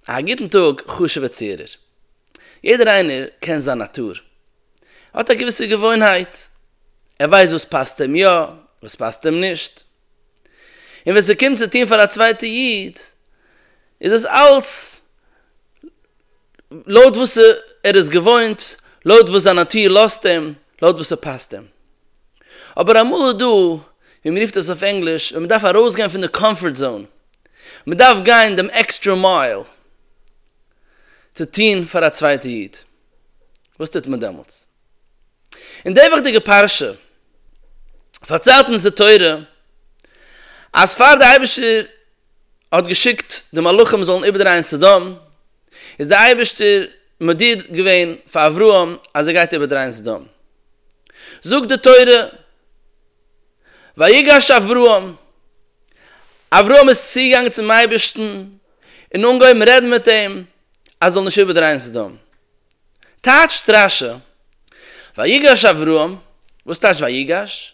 א גוטן טאג חשוב'ער צוהערער. יעדער איינער קען זיין נאטור. ער האט א געוויסע געוואוינהייט. ער ווייסט וואס פאסט אים יא, וואס פאסט אים נישט. און ווען ס'קומט צו טון פאר א צווייטע איד, איז עס אלץ לויט וואס ער איז געוואוינט, לויט וואס זיין נאטור לאזט אים, לויט וואס ס'פאסט אים. אבער אמאל איז דא ווי מען רופט עס אויף ענגליש, ווען מען דארף ארויסגיין פון די קאמפארט זאון, מען דארף גיין דעם עקסטרע מייל צו טון פאר א צווייטע איד, וואס טוט מען דעמאלטס? אין די וואכדיגע פרשה פארציילט אונז די תורה אז פאר די אייבערשטער האט געשיקט די מלאכים זאלן איבערדרייען סדום, איז דער אייבערשטער מודיע געווען פאר אברהם אז ער גייט איבערדרייען סדום. זאגט די תורה, ויגש אברהם, אברהם איז צוגעגאנגען צום אייבערשטן און אנגעהויבן רעדן מיט אים אז ער זאל נישט איבערדרייען סדום. טייטש דרשה, ויגש אברהם, וואס טייטש ויגש?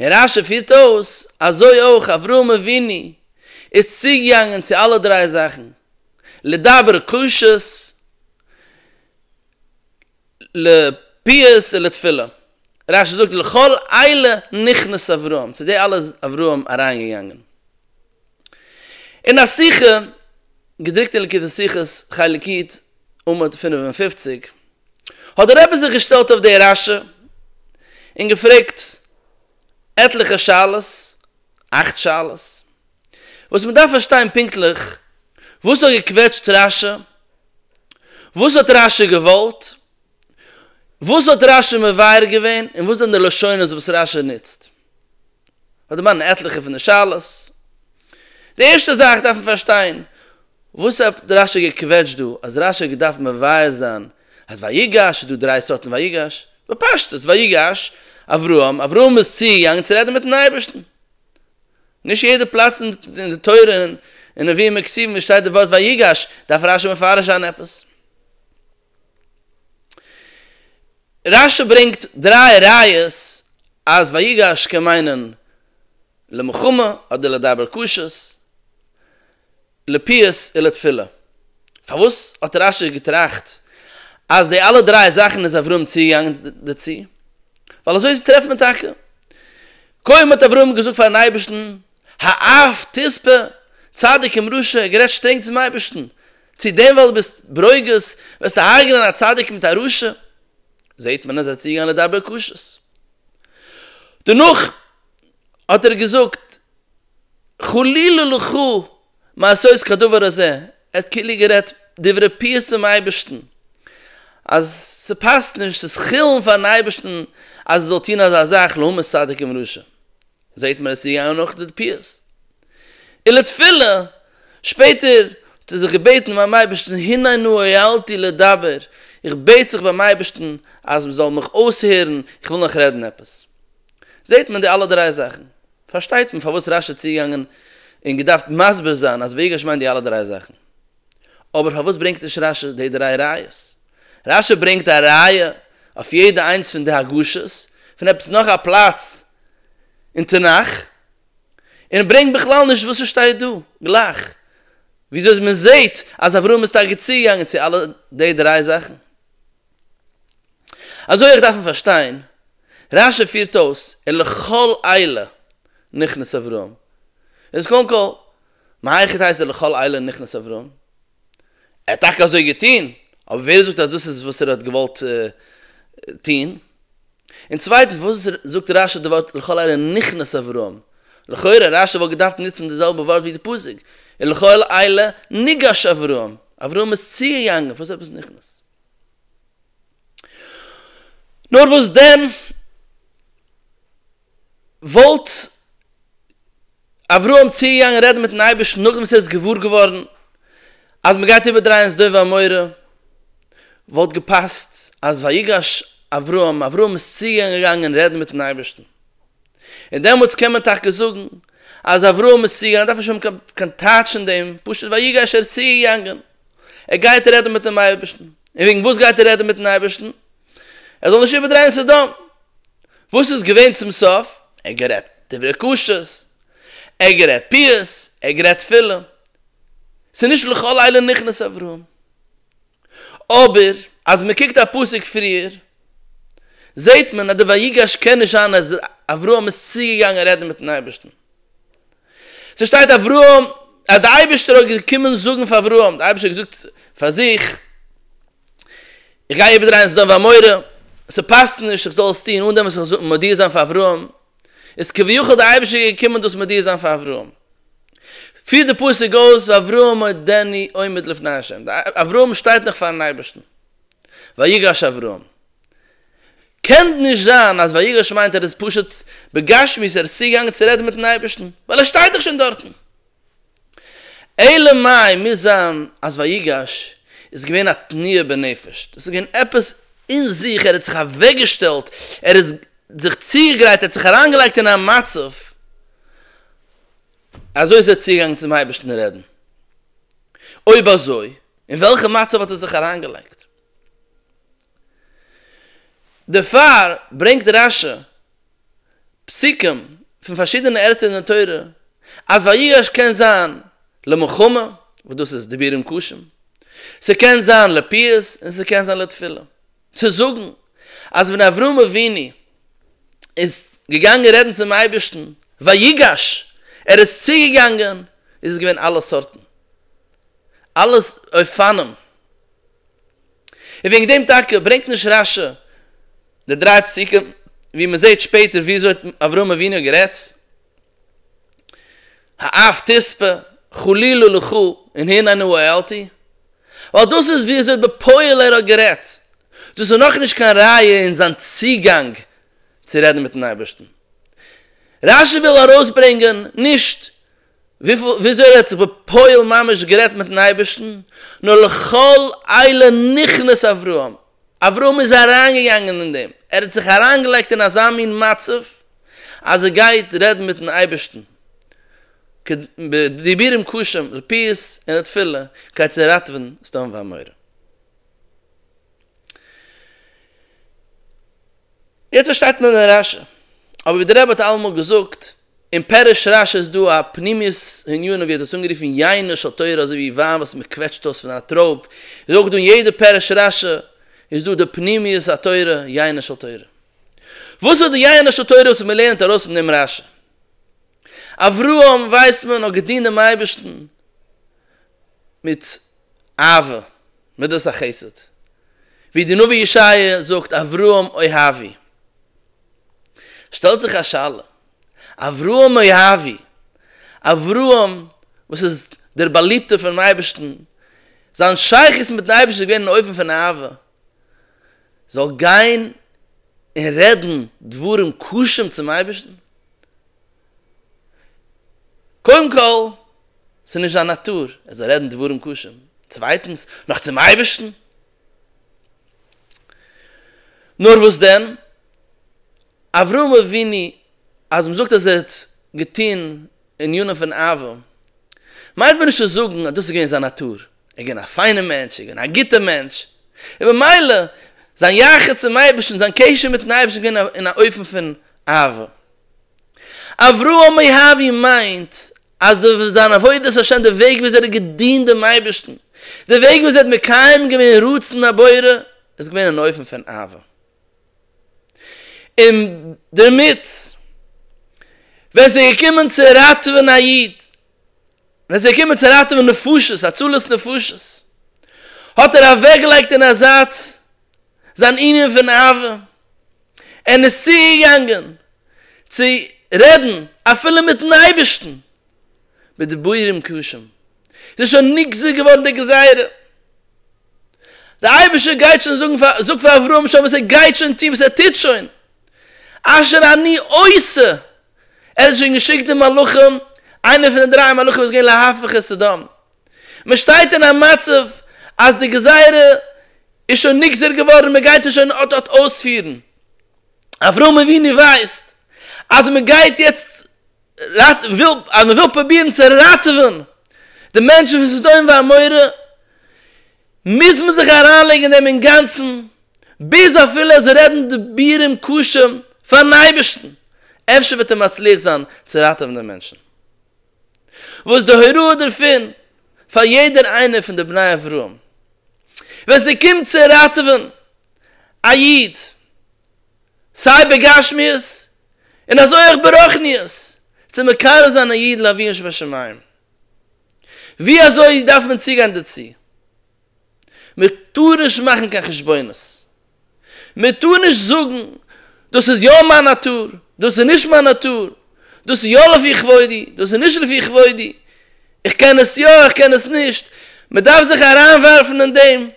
און רשי פירט אויס, אזוי אויך אברהם אבינו איז צוגעגאנגען צו אלע דריי זאכן, לדבר קשות, לפיוס און לתפילה. רשי זאגט, לכל אלה נכנס אברהם, צו די אלע איז אברהם אריינגעגאנגען. אין א שיחה, געדרוקט אין ליקוטי שיחות, חלק יט, עמוד פֿינף און פֿופֿציק, האט דער רבי זיך געשטעלט אויף די רשע און געפרעגט עטליכע שאלות, אכט שאלות, וואס מ'דארף פארשטיין פונקטליך, וואס האט געקוועטשט רשע? וואס האט רשע געוואלט? וואס האט רשע מבאר געווען? און וואס זענען די לשונות וואס רשע נוצט? כ'וועל דערמאנען עטליכע פון די שאלות. די ערשטע זאך דארף מען פארשטיין, וואס האט רשי געקוועטשט דא אז רשי האט געדארפט מבאר זיין אז ויגש איז דא דריי סארטן ויגש, בפשטות ויגש אברהם, אברהם איז צוגעגאנגען צו רעדן מיטן אייבערשטן. נישט יעדע פלאץ אין די תורה און נביאים און כתובים וואו עס שטייט די ווארט ויגש דארף רשי מפרש זיין עפעס. רש י ברענגט דריי ראיות אז ויגש קען מיינען למחמה אדער לדבר קשות, לפיוס און לתפילה. פארוואס האט רש י געטראכט אז די אלע דריי זאכן איז אברהם צוגעגאנגען דערצו? ווייל אזוי טרעפט מען טאקע. קודם האט אברהם געזאגט פארן אייבערשטן האף תספה צדיק עם רשע, ער האט גערעדט שטרענג צום אייבערשטן, צו דעם ווייל דו ביסט ברוגז וועסטו הרג'נען א צדיק מיט א רשע? זעהט מען אז ער האט צוגעגאנגען לדבר קשות. דערנאך האט ער געזאגט חלילה לך מעשות כדבר הזה, ער האט כאילו גערעדט דברי פיוס צום אייבערשטן אז ס'פאסט נישט, ס'איז חילול פארן אייבערשטן אז ער זאל טון אזא זאך לעומת צדיק עם רשע. זעהט מען עס איז געגאנגען נאך די פיאות. און לתפילה, שפעטער האט ער זיך געבעטן ביים אייבערשטן הננו הואלתי לדבר, איך בעט זיך ביים אייבערשטן אז מען זאל מיך אויסהערן, איך וויל נאך רעדן עפעס. זעהט מען די אלע דריי זאכן, פארשטייט מען פארוואס רשי האט צוגעגאנגען און געדארפט מסביר זיין אז ויגש מיינט די אלע דריי זאכן. אבער פארוואס ברענגט נישט רשי די דריי ראיות? רשי ברענגט א ראיה אויף יעדע איינס פון די הגשות, פון עפעס נאך א פלאץ אין תנך, און ברענגט בכלל נישט וואס ס'שטייט דא, גלייך וויאזוי מען זעהט אז אברהם איז טאקע צוגעגאנגען צו אלע די דריי זאכן. אזוי אויך דארף מען פארשטיין, רש י פירט אויס און לכל אלה נכנס אברהם, איז קודם כל מהיכי תיתי לכל אלה נכנס אברהם? ער האט טאקע אזוי געטון, אבער ווער זאגט אז דאס איז וואס ער האט געוואלט טון? און צווייטנס וואס זאגט רשי די ווארט לכל אלה נכנס אברהם? לכאורה רשי וואלט געדארפט נוצן די זעלבע ווארט ווי די פסוק, און לכל אלה ניגש אברהם, אברהם איז צוגעגאנגען, וואס איז עפעס נכנס? נאר וואס דען וואלט אברהם צוגעגאנגען רעדן מיטן אייבערשטן נאכדעם וואס ער איז געוואר געווארן אז מען גייט איבערדרייען סדום ועמורה, וואלט געפאסט אז ויגש אברהם, אברהם איז צוגעגאנגען רעדן מיטן אייבערשטן, און דעמאלטס קען מען טאקע זאגן אז אברהם איז צוגעגאנגען, דארף נישט האבן קיין טייטש אין דעם, פשוט ויגש ער איז צוגעגאנגען, ער גייט רעדן מיטן אייבערשטן, און וועגן וואס גייט ער רעדן מיטן אייבערשטן? ער זאל נישט איבערדרייען סדום. וואס איז געווען צום סוף? ער האט גערעדט דברי קשיות, ער האט גערעדט פיאות, ער האט גערעדט תפילה. ס'איז נישט לכל אלה נכנס אברהם. אבער אז מען קוקט א פסוק פריער, זעט מען אז די ויגש קען נישט זיין אז אברהם איז צוגעגאנגען רעדן מיט'ן אייבערשטן. ס'שטייט אברהם, אז די אייבערשטער האט געקומען זאגן פאר אברהם, די אייבערשטער האט געזאגט פאר זיך, איך גיי איבערדרייען סדום ועמורה, ס'פאסט נישט איך זאל עס טון אן דעם וואס איך זאל מודיע זיין פאר אברהם, איז כביכול די אייבערשטער געקומען דאס מודיע זיין פאר אברהם. פירט די פסוק אויס ואברהם עודני עומד לפני השם, די אברהם שטייט נאך פארן אייבערשטן. ויגש אברהם. קען נישט זיין אז ויגש מיינט ער איז פשוט בגשמיות ער איז צוגעגאנגען צו רעדן מיטן אייבערשטן, ווייל ער שטייט דאך שוין דארטן. אלא מאי מוז זיין אז ויגש איז געווען א תנועה בנפש, דאס איז געווען עפעס אין זיך, ער האט זיך אוועקגעשטעלט, ער איז זיך צוגעגרייט, ער האט זיך אריינגעלייגט אין א מצב, אזוי איז ער צוגעגאנגען צום אייבערשטן רעדן, אויב אזוי אין וועלכע מצב האט ער זיך אריינגעלייגט? דערפאר ברענגט רש י פסוקים פון פארשידענע ערטער אין די תורה אז ויגש קען זיין למלחמה, וואס דאס איז דיבורים קשים, ס'קען זיין לפיוס און ס'קען זיין לתפילה, צו זאגן אז ווען אברהם אבינו איז געגאנגען רעדן צום אייבערשטן ויגש, ער איז צוגעגאנגען, איז עס געווען אלע סארטן, אלע אופנים. און וועגן דעם טאקע ברענגט נישט רש י די דריי פסוקים ווי מען זעט שפעטער ווי אזוי האט אברהם אבינו גערעדט האף תספה חלילה לך און הנני העלתי ווייל דאס איז ווי אזוי בפועל ער האט גערעדט, דאס איז נאכנישט קיין ראיה אין זיין צוגאנג צו רעדן מיטן אייבערשטן. רש י וויל ארויסברענגען נישט וויאזוי ער האט זיך בפועל ממש גערעדט מיטן אייבערשטן, נאר לכל אלה נכנס אברהם, אברהם איז אריינגעגאנגען אין דעם, ער האט זיך אריינגעלייגט אין אזא מין מצב אז ער גייט רעדן מיטן אייבערשטן, בדיבורים קשים, לפיוס און לתפילה, כדי צו ראטעווען סדום ועמורה. יעצט פארשטייט מען דעם רשי, אבער ווי דער רבי האט אלעמאל געזאגט, אין פירוש רש י איז דא א פנימיות העניון ווי ער האט דאס אנגערופן יינו של תורה אזוי ווי וויין וואס מען קוועטשט אויס פון א טרויב, איז אויך דא אין יעדע פירוש רש י איז דא די פנימיות התורה, יינו של תורה. וואס איז די יינו של תורה וואס מען לערנט ארויס פון דעם רש י? אברהם ווייסט מען האט געדינט דעם אייבערשטן מיט אהבה, מדת החסד, ווי די נביא ישעיה זאגט אברהם אוהבי. שטעלט זיך א שאלה, אברהם מואבי, אברהם וואס איז דער באליבטער פונעם אייבערשטן, זיין שייכות מיטן אייבערשטן איז געווען אין אופן פון אהבה, זאל גיין און רעדן דברים קשים צום אייבערשטן? קודם כל, ס'איז נישט זיין נאטור, ער זאל רעדן דברים קשים, צווייטנס, נאך צום אייבערשטן? נאר וואס דען? אברהם אבינו אז מ'זאגט אז ער האט געטון ענינים פון אהבה, מיינט מען נישט צו זאגן אז דאס איז געווען זיין נאטור, ער איז געווען א פיינער מענטש, ער איז געווען א גוטער מענטש, און במילא זיין יחס צום אייבערשטן, זיין קשר מיט'ן אייבערשטן איז געווען אין א אופן פון אהבה. אברהם מאי האבי מיינט אז די זיין עבודת השם די וועג וויאזוי ער האט געדינט דעם אייבערשטן, די וועג וויאזוי ער האט מקיים געווען רצון הבורא, איז געווען אין אופן פון אהבה, און דערמיט ווען ס'איז געקומען צו ראטעווען א איד, ווען ס'איז געקומען צו ראטעווען נפשות, הצלת נפשות, האט ער אוועקגעלייגט אין א זייט זיין ענין פון אהבה, ער איז צוגעגאנגען צו רעדן אפילו מיטן אייבערשטן בדיבורים קשים, איז שוין נגזר געווארן די גזירה, דער אייבערשטער גייט שוין זאגן פאר, זאג פאר אברהם שוין וואס ער גייט שוין טון, וואס ער טוט שוין, אשר אני עושה, ער האט שוין געשיקט די מלאכים, איינער פון די דריי מלאכים איז געווען להפיך את סדום, מען שטייט אין א מצב אז די גזירה איז שוין נגזר געווארן און מען גייט עס שוין אט אט אויספירן. אברהם אבינו ווייסט אז מען גייט יעצט ראט וויל אז מען וויל פרובירן צו ראטעווען די מענטשן פון סדום ועמורה, מוז מען זיך אריינלייגן אין דעם אינגאנצן, ביז אפילו זיי רעדן דיבורים קשים פארן אייבערשטן, אפשר וועט ער מצליח זיין צו ראטעווען די מענטשן. וואס די הוראה דערפון פאר יעדער איינער פון די בני אברהם ווען ס'קומט צו ראטעווען א איד סיי בגשמיות און אזוי אויך ברוחניות צו מקרב זיין א איד לאבינו שבשמים ווי אזוי דארף מען צוגיין דערצו מ'טאר נישט מאכן קיין חשבונות מען טאר נישט זאגן, דאס איז יא מיין נאטור, דאס איז נישט מיין נאטור, דאס איז יא לפי כבודי, דאס איז נישט לפי כבודי, איך קען עס יא, איך קען עס נישט, מען דארף זיך אריינווארפן אין דעם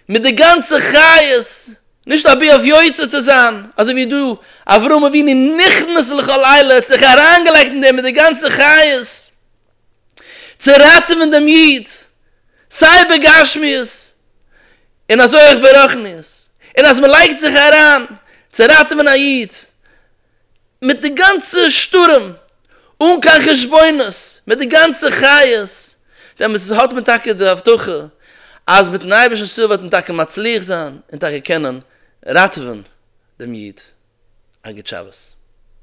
מיט די גאנצע חיות, נישט אבי אויף יוצא צו זיין, אזוי ווי דא אברהם אבינו נכנס לכל עילה, ער האט זיך אריינגעלייגט אין דעם מיט די גאנצע חיות, צו ראטעווען דעם איד סיי בגשמיות און אזוי אויך ברחניות, און אז מען לייגט זיך אריין צו ראטעווען א איד מיט די גאנצע שטורעם אן קיין חשבונות מיט די גאנצע חיות, דעמאלטס האט מען טאקע די הבטחה אז מיט'ן אייבערשטנ'ס הילף וועט מען טאקע מצליח זיין און טאקע קענען ראטעווען דעם איד. א גוט שבת.